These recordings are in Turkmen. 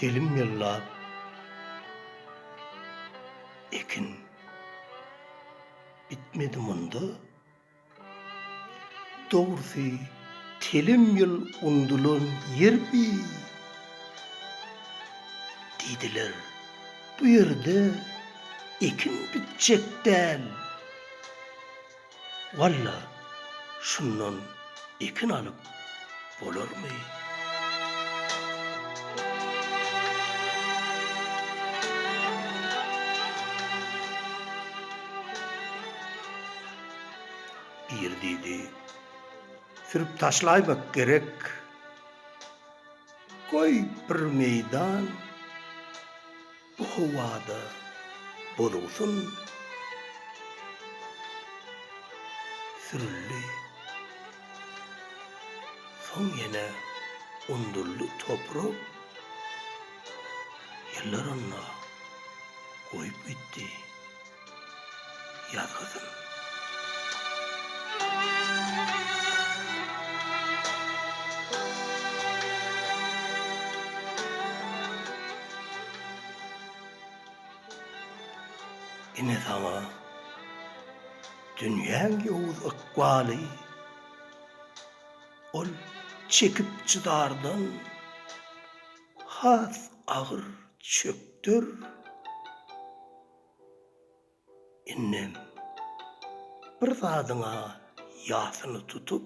Telim ýyllap ekin bitmedi munda, dogrusy telim ýyl undulan ýer bi, diýdiler, bu ýerde ekin bitjek däl. Walla, şundan ekin alyp bolarmy? Ir diýdi. Sürüp taşlaýmak gerek. Goý, bir meýdan Bu howada boluwsyn sürüldi. Soň ýene undurly toprak ýyllarynda goýup gitdi. Ýaz gyzym. Ine saňa dünýäň ýowuz ykbaly, Ol çekip-çydardan has agyr çökder. Indem bir zadyň-a ýasyny tutup,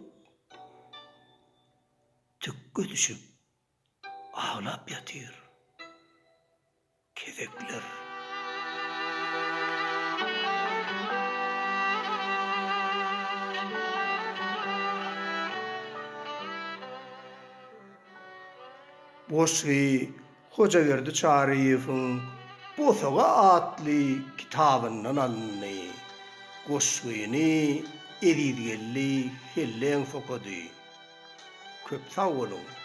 tükge düşüp aglap ýatyr. Kezekler. Goşgy. Hojaberdi Çaryýewiň Bosaga atly kitabyndan alyndy. Goşgyny Ezizgeldi Helleňs okady. Köp sag boluň!